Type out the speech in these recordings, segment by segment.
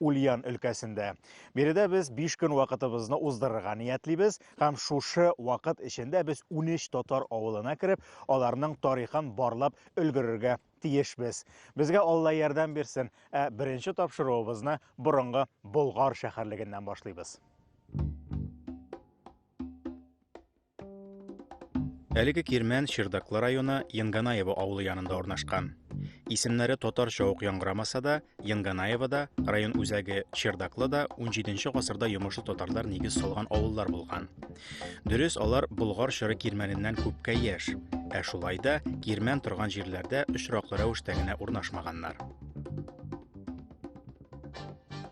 Ульян өлкәсендә. Биредә без 5 көн вакытыбызны уздырырга ниятлибез һәм шушы вакыт эчендә без 13 татар авылына кереп, аларның тарихын барлап өлгерергә тиешбез. Безгә Алла ярдәм бирсен, ә беренче тапшыруыбызны борынгы Болгар шәһәрлегеннән башлыйбыз. Әлеге кирмән Чердаклы районы Янганаево авылы янында урнашкан. Исемнәре татарча ук яңгырамаса да, Янганаево да, район үзәге Чердаклы да 17-нче гасырда йомышлы татарлар нигез салган авыллар булган. Дөрес, алар Болгар чоры кирмәненнән күпкә яшь, ә шулай да кирмән торган җирләрдә очраклы рәвештә генә урнашмаганнар.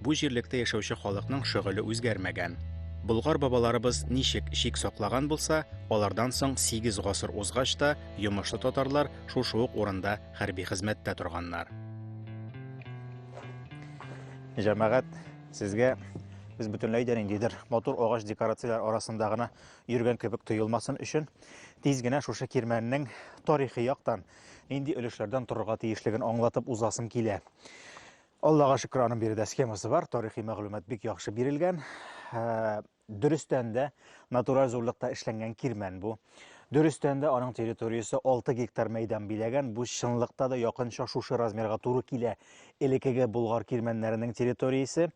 Бу җирлектә яшәүче халыкның шөгыле үзгәрмәгән. Болгар бабаларыбыз ничек шик саклаган булса, алардан соң 8 гасыр узгач та йомышлы татарлар шушы ук урында хәрби хезмәттә торганнар. Җәмәгать, сезгә без бөтенләй дә ниндидер матур агач декорацияләр арасында гына йөргән кебек тоелмасын өчен, тиз генә шушы кирмәннең тарихи яктан нинди өлешләрдән торырга тиешлеген аңлатып узасым килә. Аллага шөкер, аның биредә схемасы бар, тарихи мәгълүмат бик яхшы бирелгән. Ә, Дөрестән дә натураль зурлыкта эшләнгән кирмән бу. Дөрестән дә аның территориясе 6 гектар мәйдан биләгән. Бу чынлыкта да якынча шушы размерга туры килә элекеге Болгар кирмәннәренең территориясе.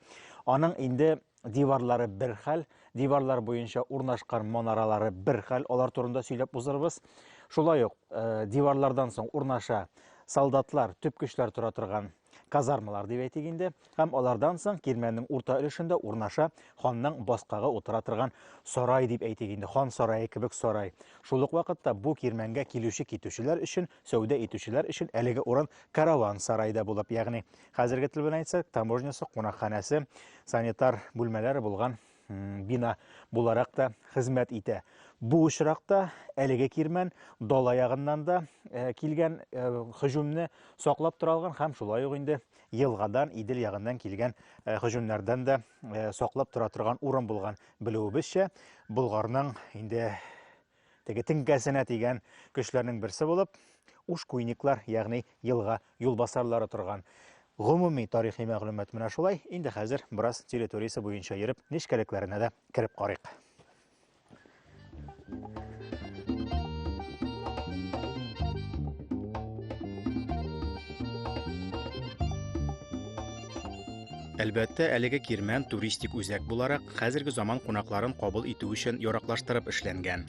Аның инде диварлары бер хәл, диварлар буенча урнашкан манаралары бер хәл, алар турында сөйләп узырбыз. Шулай ук э, диварлардан соң урнаша солдатлар, төп көчләр тора торган казармалар дип әйтик инде, һәм алардан соң кирмәннең урта өлешендә урнаша ханның баскагы утыра торган сарай дип әйтик инде, хан сарае кебек сарай. Шул ук вакытта бу кирмәнгә килүче китүчеләр өчен, сәүдә итүчеләр өчен әлеге урын караван сарай да булып, ягъни хәзерге тел белән әйтсәк, таможнясы, кунакханәсе, санитар бүлмәләре булган бина буларак та хезмәт итә. Бу очракта әлеге кирмән дала ягыннан да э, килгән э, хөҗүмне саклап тора алган һәм шулай ук инде елгадан, Идел ягыннан килгән э, хөҗүмнәрдән дә саклап тора торган урын булган. Белүебезчә, Болгарның инде Теге теңкәсенә тигән көчләрнең берсе булып, ушкуйниклар, ягъни елга юлбасарлары торган. Гомуми тарихи мәгълүмат менә шулай. Инде хәзер бераз территориясе буенча йөреп, нечкәлекләренә дә кереп карыйк. Әлбәттә, әлеге кирмән туристик үзәк буларак хәзерге заман кунакларын кабул итү өчен яраклаштырып эшләнгән.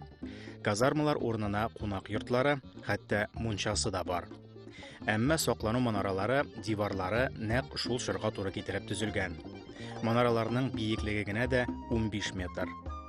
Казармалар урынына кунак йортлары, хәтта мунчасы да бар. Әмма саклану манаралары, диварлары нәкъ шул чорга туры китереп төзелгән. Манараларның биеклеге генә дә 15 метр.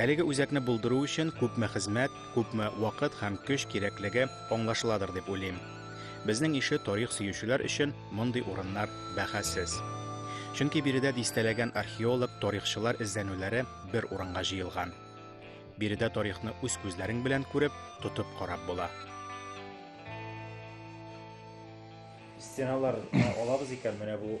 Әлеге үзәкне булдыру өчен күпме хезмәт, күпме вакыт һәм көч кирәклеге аңлашыладыр дип уйлыйм. Безнең ише тарих сөючеләр өчен мондый урыннар бәхәссез. Чөнки биредә дистәләгән археолог, тарихчылар эзләнүләре бер урынга җыелган. Биредә тарихны үз күзләрең белән күреп, тотып карап була. Стеналар алабыз икән, менә бу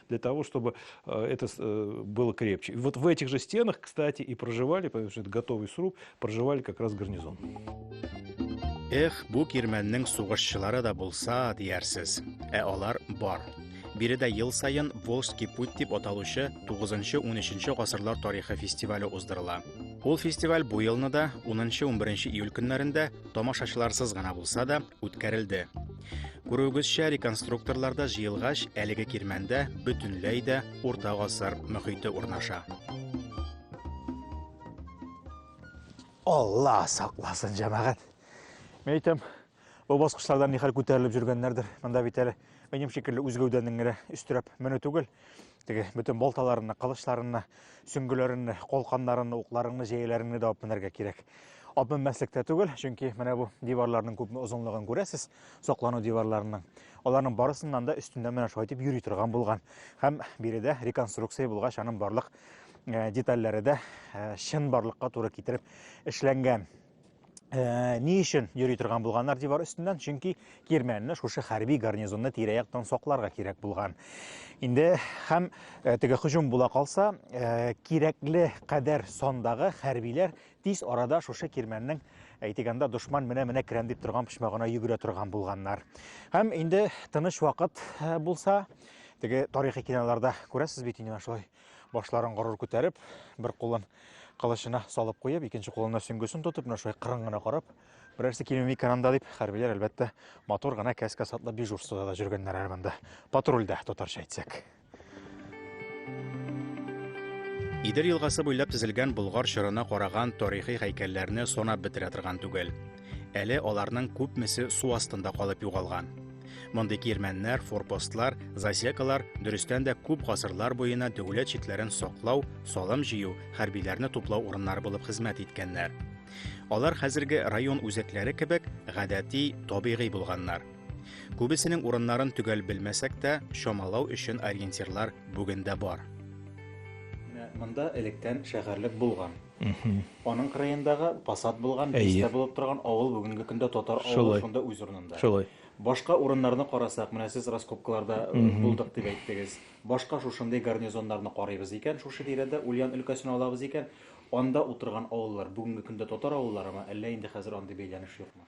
для того, чтобы э, это э, было крепче. И вот в этих же стенах, кстати, и проживали, потому что это готовый сруб, проживали как раз гарнизон. Эх, бу кирмәннең сугышчылары да булса, диярсез. Ә алар бар. Биредә ел сайын Волжский путь дип аталучы 9-13 гасырлар тарихы фестивале уздырыла. Ул фестиваль бу елны да 10-11 июль көннәрендә тамашачыларсыз гына булса да үткәрелде. Күрүегезчә, реконструкторлар да җыелгач, әлеге кирмәндә бөтенләй дә урта гасыр мөхите урнаша. Алла сакласын, җәмәгать. Мен әйтәм, бу баскычлардан нихәл күтәрелеп жүргәннәрдер. Монда бит әле минем шикелле үз гәүдәнең генә өстерәп менү түгел. Теге бөтен болталарынны, кылычларынны, сөңгеләренне, колканнарынны, укларыңны, җәяләреңне дә алып менәргә кирәк. Алып менмәслек тә түгел, чөнки менә бу диварларның күпме озынлыгын күрәсез, саклану диварларының. Аларның барысыннан да өстендә менә шулай итеп йөри торган булган. Һәм биредә реконструкция булгач, аның барлык э, детальләре дә э, чын барлыкка туры китереп эшләнгән. Э, ни өчен йөри торган булганнар дивар өстеннән чөнки кирмәнне шушы хәрби гарнизонны тирә-яктан сакларга кирәк булган инде һәм э, теге һөҗүм була калса э, кирәкле кадәр сандагы хәрбиләр тиз арада шушы кирмәннең әйтегәндә дошман менә менә керәм дип торган почмагына йөгерә торган булганнар һәм инде тыныч вакыт булса теге тарихи киноларда күрәсез бит инде шулай Башларын горур күтәреп, бер кулын кылычына салып куеп, икенче кулына сөңгесен тотып, менә шулай кырын гына карап, берәрсе килмим икән анда дип, хәрбиләр, әлбәттә, матур гына кәскә сатлы дежурствода да жүргәннәр әле монда. Патрульдә, татарча әйтсәк. Идел елгасы буйлап тезелгән Болгар чорына караган тарихи һәйкәлләрне санап бетерә торган түгел. Әле аларның күпмесе су астында калып югалган. Мондый кирмәннәр, форпостлар, засекалар дөрестән дә күп гасырлар буена дәүләт чикләрен саклау, салым җыю, хәрбиләрне туплау урыннары булып хезмәт иткәннәр. Алар хәзерге район үзәкләре кебек гадәти, табигый булганнар. Күбесенең урыннарын төгәл белмәсәк тә, чамалау өчен ориентирлар бүген дә бар. Монда электән шәһәрлек булган. Аның кырыендагы посад булган, бистә булып торган авыл бүгенге көндә татар авылы шунда үз урынында. Шулай. Башка урыннарны карасак, менә сез раскопкаларда булдык дип әйттегез. Башка шушындый гарнизоннарны карыйбыз икән, шушы тирәдә Ульян өлкәсен алабыз икән, анда утырган авыллар бүгенге көндә татар авылларымы, әллә инде хәзер андый бәйләнеш юкмы?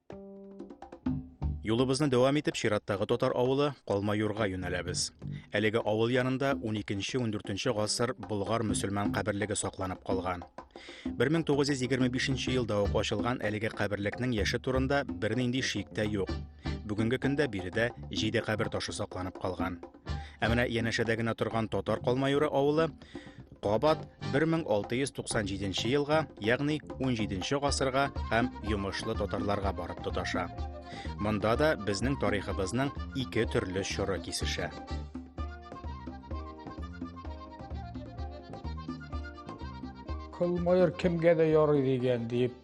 Юлыбызны дәвам итеп чираттагы татар авылы Калмаюрга юнәләбез. Әлеге авыл янында 12-14 гасыр болгар мөселман каберлеге сакланып калган. 1925 елда ук ачылган әлеге каберлекнең яше турында бернинди шик тә юк. Бүгенге көндә биредә җиде кабер ташы сакланып калган. Ә менә янәшәдә генә торган татар калмаюры авылы кабат 1697 елга, ягъни 17 гасырга һәм йомышлы татарларга барып тоташа. Монда да безнең тарихыбызның ике төрле чоры кисешә. Кылмайыр кемгә дә ярый дигән дип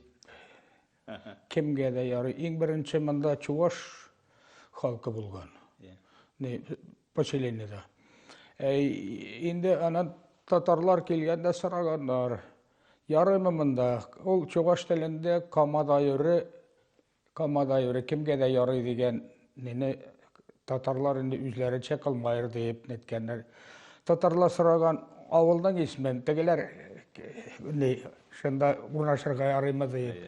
Кемгә дә ярый. Иң беренче монда чуваш халкы булган. Ни поселениедә. Ә инде анан татарлар килгәндә сораганнар. Ярыймы монда? Ул чуваш телендә камадайыры, камадайыры кемгә дә ярый дигән Мине татарлар инде үзләренчә кылмайыр диеп неткәннәр. Татарлар сораган авылның исмен, тегеләр ни, шунда урнашырга ярыймы диеп.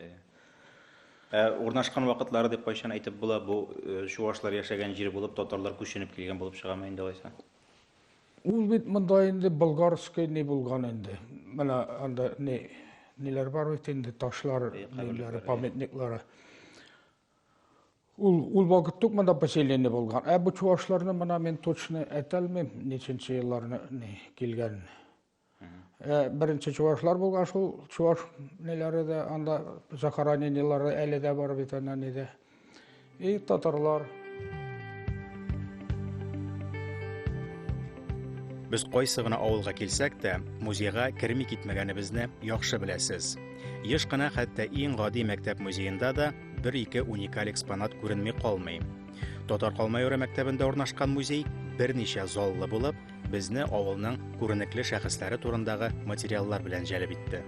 Ә урнашкан вакытлары дип кайчан әйтеп була, бу э, чувашлар яшәгән җир булып, татарлар күченеп килгән булып чыгамы инде алайса? Ул бит монда инде болгарский не булган инде. Менә анда не ниләр бар бит инде ташлар, ниләр, памятниклары. Ул, ул вакыт тук монда поселение булган. Ә бу чувашларны мына мин точно әйтәлмим, ниченче елларны килгән. Ә беренче чувашлар булган шул чуваш неләре дә анда захоронениелары әле дә бар бит ана нидә. И татарлар. Без кайсы гына авылга килсәк тә, музейга керми китмәгәнебезне яхшы беләсез. Еш кына хәтта иң гади мәктәп музеенда да бер-ике уникаль экспонат күренми калмый. Татар Калмайоры мәктәбендә урнашкан музей берничә заллы булып, безне авылның күренекле шәхесләре турындагы материаллар белән җәлеп итте.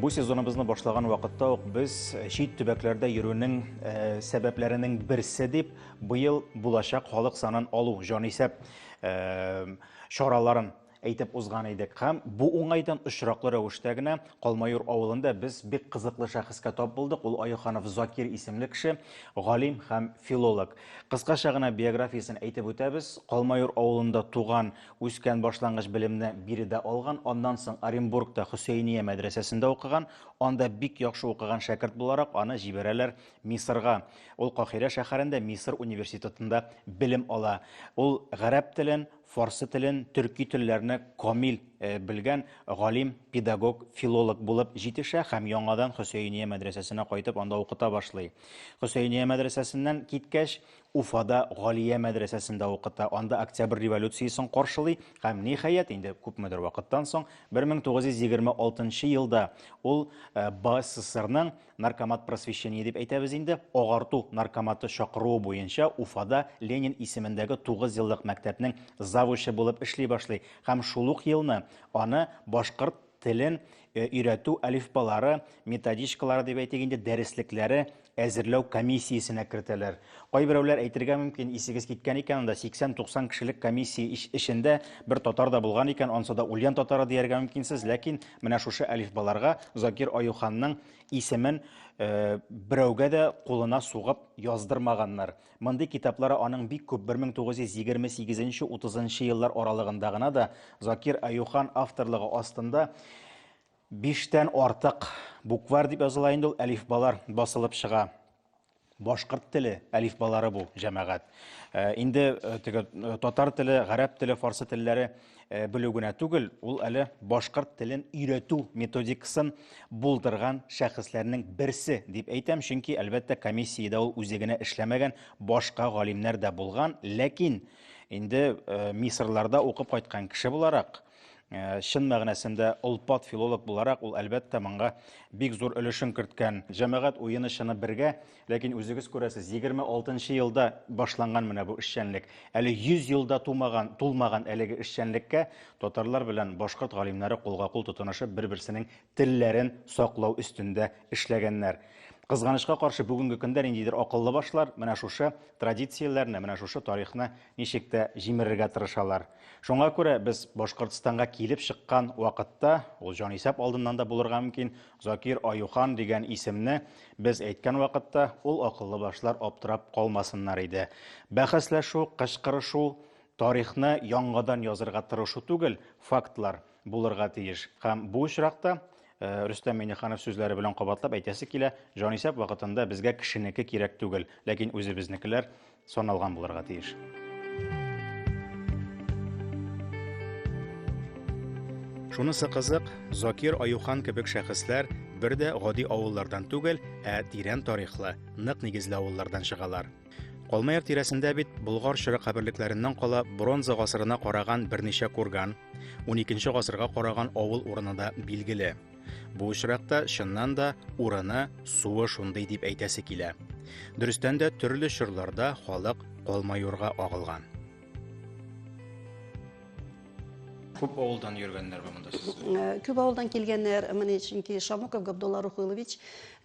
Бу сезоныбызны башлаган вакытта ук без чит төбәкләрдә йөрүнең э, сәбәпләренең берсе дип быел булачак халык санын алу җанисәп э, чараларын әйтеп узган идек һәм бу уңайдан очраклы рәвештә генә Калмаюр авылында без бик кызыклы шәхескә тап булдык, ул Аюханов Закир исемле кеше, галим һәм филолог. Кыскача гына биографиясен әйтеп үтәбез, Калмаюр авылында туган, үскән, башлангыч белемне биредә алган, аннан соң Оренбургта Хөсәения мәдрәсәсендә укыган, анда бик яхшы укыган шәкерт буларак аны җибәрәләр Мисырга, ул Каһирә шәһәрендә Мисыр университетында белем ала, ул гарәп телен, фарсы телен, төрки телләрне камил белгән галим, педагог, филолог булып җитешә һәм яңадан Хөсәения мәдрәсәсенә кайтып анда укыта башлый. Хөсәения мәдрәсәсеннән киткәч, Уфада Галия мәдрәсәсендә укыта, анда Октябрь революциясен каршылый һәм, ниһаять, инде күпмедер вакыттан соң, 1926 елда ул БССРның Наркомат просвещения дип әйтәбез инде, агарту наркоматы чакыруы буенча Уфада Ленин исемендәге 9 еллык мәктәпнең завучы булып эшли башлый һәм шул ук елны аны башкорт телен э, өйрәтү алифбалары, методичкалары дип әйтик инде, дәреслекләре әзерләү комиссиясенә кертәләр. Кайберәүләр әйтергә мөмкин, исегез киткән икән, анда 80-90 кешелек комиссия эчендә бер татар да булган икән, ансы да ульян татары дияргә мөмкинсез, ләкин Менә шушы әлифбаларга Закир Аюханның исемен берәүгә дә кулына сугып яздырмаганнар. Мондый китаплары аның бик күп 1928-30 еллар аралыгында гына да Закир Аюхан авторлыгы астында биштән артык буквар дип языла инде ул әлифбалар басылып чыга. Башкорт теле әлифбалары бу, җәмәгать. Э, инде э, теге э, татар теле, гарәп теле, фарсы телләре белү генә түгел, ул әле башкорт телен өйрәтү методикасын булдырган шәхесләрнең берсе дип әйтәм, чөнки әлбәттә комиссиядә ул үзе генә эшләмәгән, башка галимнәр дә булган, ләкин инде мисырларда укып кайткан кеше буларак, Э, чын мәгънәсендә олпат филолог буларак ул әлбәттә моңа бик зур өлешен керткән җәмәгать уены чыны бергә ләкин үзегез күрәсез 26 елда башланган менә бу эшчәнлек әле 100 елда тумаган тулмаган әлеге эшчәнлеккә татарлар белән башкорт галимнәре кулга кул тотынышып бер берсенең телләрен саклау өстендә эшләгәннәр. Кызганычка каршы, бүгенге көндә ниндидер акыллы башлар менә шушы традицияләрне, менә шушы тарихны ничек тә җимерергә тырышалар. Шуңа күрә без Башкортстанга килеп чыккан вакытта, ул җанисәп алдыннан да булырга мөмкин, Закир Аюхан дигән исемне без әйткән вакытта, ул акыллы башлар аптырап калмасыннар иде. Бәхәсләшү, кычкырышу, тарихны яңадан язырга тырышу түгел, фактлар. булырга тиеш. Һәм бу очракта Э, Рөстәм Миңнеханов сүзләре белән кабатлап әйтәсе килә, җанисәп вакытында безгә кешенеке кирәк түгел, ләкин үзебезнекеләр саналган булырга тиеш. Шунысы кызык, Закир Аюхан кебек шәхесләр бер дә гади авыллардан түгел, ә тирән тарихлы, нык нигезле авыллардан чыгалар. Калмаяк тирәсендә бит Болгар чоры каберлекләреннән кала бронза гасырына караган берничә курган, 12 гасырга караган авыл урыны да билгеле. Бу очракта чыннан да урыны, суы шундый дип әйтәсе килә. Дөрестән дә төрле чорларда халык Калмаюрга агылган. Күп авылдан йөргәннәр бу монда сез. Күп авылдан килгәннәр, менә чөнки Шамуков Габдулла Рухилович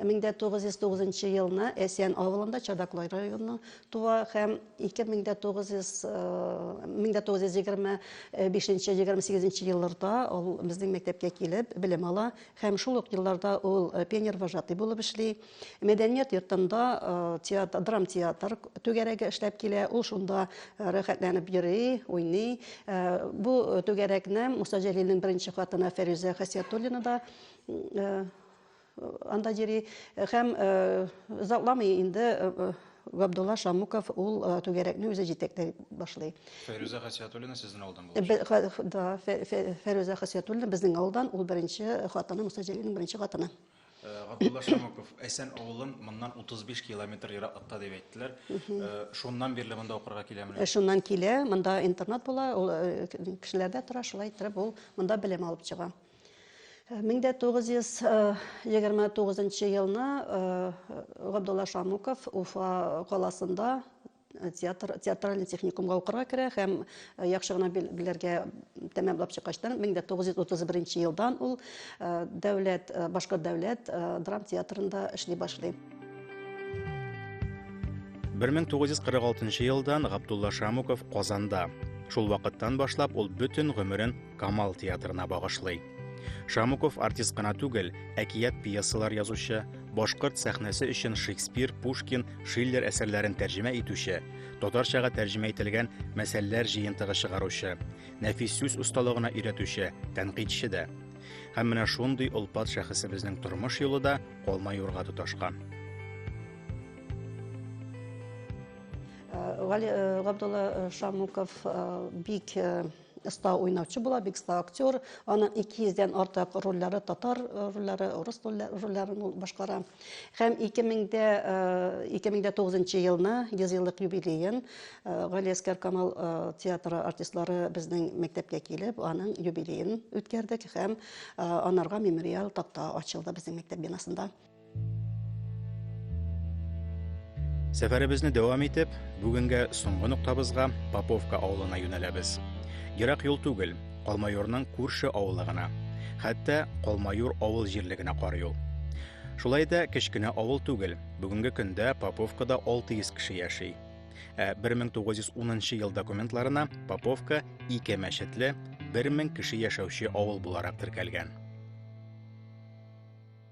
1909 елны Әсян авылында Чадаклы районы туа һәм 1925-28 елларда ул безнең мәктәпкә килеп белем ала һәм шул ук елларда ул пионер вожатый булып эшли. Мәдәният йортында театр, драм театр түгәрәге эшләп килә. Ул шунда рәхәтләнеп йөри, уйный. Бу түгәрәкне Муса Җәлилнең беренче хатыны Фәрүзә Хәсиятуллина да анда йөри. Һәм озакламый инде Габдулла Шамуков ул э, түгәрәкне үзе җитәкләп башлый. Фәрүзә Хасиятуллина сезнең авылдан булып. Да, Фәрүзә Хасиятуллина безнең авылдан, ул беренче хатыны, Муса Җәлилнең беренче хатыны. Габдулла Шамыков, Әсән авылын моннан 35 километр ераклыкта дип әйттеләр. Шуннан бирле монда укырга киләмени? Шуннан килә, монда интернат була, ул кешеләрдә тора, шулай иттереп ул монда белем алып чыга. 1929 елны Габдулла Шамыков Уфа каласында Театр, театральный техникумга укырга керә һәм э, яхшы гына белергә тәмамлап чыккачтан 1931 елдан ул э, дәүләт э, башкорт дәүләт драм театрында эшли башлый. 1946 елдан Габдулла Шамуков Казанда. Шул вакыттан башлап ул бөтен гомерен Камал театрына багышлый. Шамуков артист кына түгел, әкият пьесалар язучы, башкорт сәхнәсе өчен Шекспир, Пушкин Шиллер әсәрләрен тәрҗемә итүче, татарчага тәрҗемә ителгән мәсәлләр җыентыгы чыгаручы, нәфис сүз осталыгына өйрәтүче, тәнкыйтьче дә. Һәм менә шундый олпат шәхесебезнең тормыш юлы да калма юрга тоташкан. Гали Габдулла Шамуков бик Оста уйнаучы була, бик оста актер. Аның 200 дән артык рольләре, татар э, рольләре, урыс рольләрен ул башкара. Һәм 2000-дә 2009 э, елны 100 еллык юбилеен э, Гали Әскәр Камал театры артистлары безнең мәктәпкә килеп, аның юбилеен үткәрдек һәм анарга мемориал такта ачылды безнең мәктәп бинасында. Сәфәребезне дәвам итеп, бүгенгә соңгы ноктабызга Поповка авылына юнәләбез. Ерак юл түгел, Калмайорның күрше авылы гына. Хәтта Калмайор авыл җирлегенә карый ул. Шулай да кечкенә авыл түгел. Бүгенге көндә Поповкада 600 кеше яши. Ә 1910 ел документларына Поповка ике мәчетле, 1000 кеше яшәүче авыл буларак теркәлгән.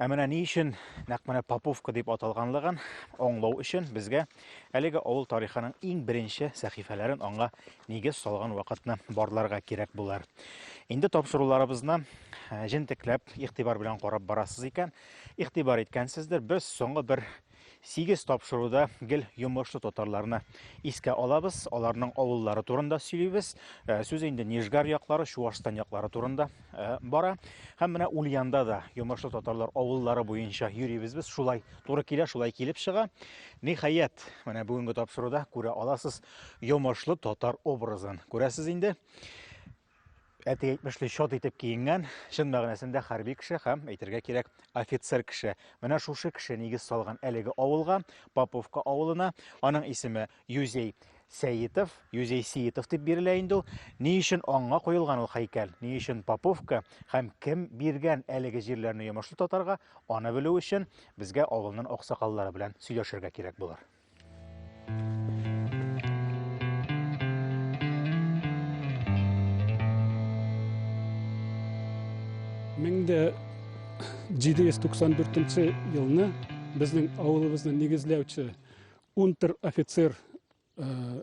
Ә менә ни өчен нәкъ менә Поповка дип аталганлыгын аңлау өчен безгә әлеге авыл тарихының иң беренче сәхифәләрен аңа нигез салган вакытны барларга кирәк булар. Инде тапшыруларыбызны э, җентекләп, игътибар белән карап барасыз икән, игътибар иткәнсездер, без соңгы бер Сигез тапшыруда гел йомышлы татарларны искә алабыз, аларның авыллары турында сөйлибез. Э, сүз инде Нижгар яклары, Чуашстан яклары турында э, бара. Һәм менә Ульянда да йомышлы татарлар авыллары буенча йөрибез без. Шулай туры килә, шулай килеп чыга. Ниһаять, менә бүгенге тапшыруда күрә аласыз йомышлы татар образын. Күрәсез инде. әти әйтмешли чат итеп киенгән чын мәгънәсендә хәрби кеше һәм әйтергә кирәк офицер кеше менә шушы кеше нигез салган әлеге авылга поповка авылына аның исеме юзей Сәетов, Юзей Сиетов дип бирелә инде ул. Ни өчен аңга куелган ул һәйкәл? Ни өчен Поповка һәм кем биргән әлеге җирләрне йомышлы татарга? Аны белү өчен безгә авылның аксакаллары белән сөйләшергә кирәк булыр. Меңдә 794 елны безнең авылыбызны нигезләүче унтер офицер э,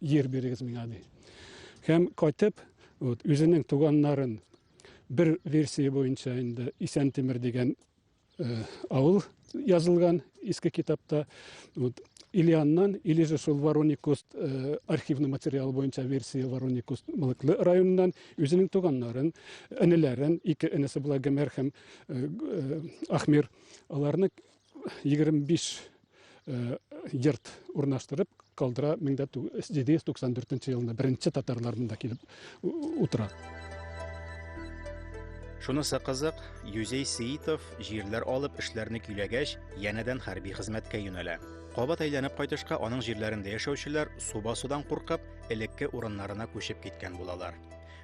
Йир бирегез миңа ди. Һәм кайтып, вот, үзенең туганнарын бер версия буенча инде Исән Тимер дигән э, авыл язылган иске китапта. Вот, Ильяннан, или же шул Вороникуст э, архивный материал буенча версия Вороникуст Мылыклы районыннан үзенең туганнарын, энеләрен, ике энесе була Гомер һәм э, э, Ахмир, аларны 25 йорт урнаштырып калдыра 1794 елында беренче татарлар монда килеп утыра Шунысы кызык, Юзей Сеитов җирләр алып эшләрне көйләгәч, янәдән хәрби хезмәткә юнәлә. Кабат әйләнеп кайтышка аның җирләрендә яшәүчеләр суба судан куркып, элекке урыннарына күчеп киткән булалар.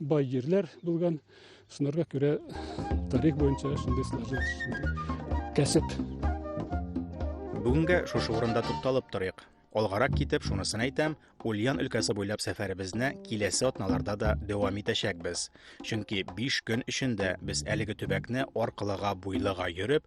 Бай җирләр булган, шунарга күрә тарих буенча шундый сложилось. Кәсеп. Бүгенгә шушы урында тукталып торыйк. Алгарак китеп шунысын әйтәм, Ульян өлкәсе буйлап сәфәребезне киләсе атналарда да дәвам итәчәкбез. Чөнки 5 көн эчендә без әлеге төбәкне аркылыга-буйлыга йөреп,